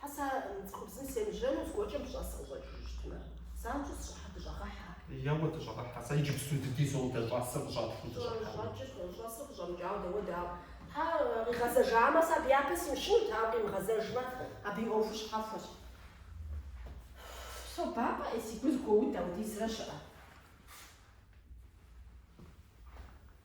Хьэса, цӏыхубзым семыжьэну зыгуэркӏэ мы щӏэсыр къыщӏэкӏыжу щытмэ? Занщӏэу сщӏыхьэ дыщӏэгъэхьэ. Еуэ, дыщӏэгъэхьэ, Хьэса, иджыпсту дыдэ зэуэ дэ щӏэсыр къыщӏэтхьэу дыщӏэхьэкъым. Щӏэкӏыркъым, щӏэсыр къыщӏэмыкӏауэ дауэ дауэ? Тхьэ, къигъэзэжамэ, сэ абы япэ симыщынут, ауэ къимыгъэзэжмэ, абы и ӏуэхур щхьэхуэщ. Собампӏэ ӏей, си гур зэгуоуд, апхуэдизрэ щыӏэ?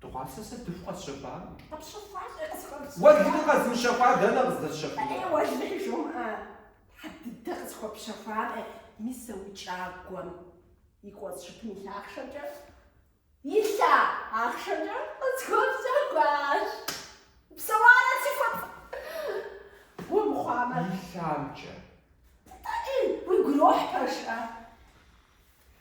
Дыгъуасэ сэ дыху къэсщэфам? Къэпщэфащи къысхуэпхьыжа? Уэлэхьи къэзмыщэфа дэнэ къыздэсщэфынур? Э, уэлэхьи жумыӏэ, Тхьэ дыдэ къысхуэпщэфами, мис а уи кӏагуэм и кӏуэцӏ жыпым илъа ахъшэмкӏэ, илъа ахъшэмкӏэ къысхуэпщэхуащ. Псэуарэ си фэт гу мыхъуамэ. Илъамкӏэ. Тӏэкӏи, уигу ирохь пэжщ, а?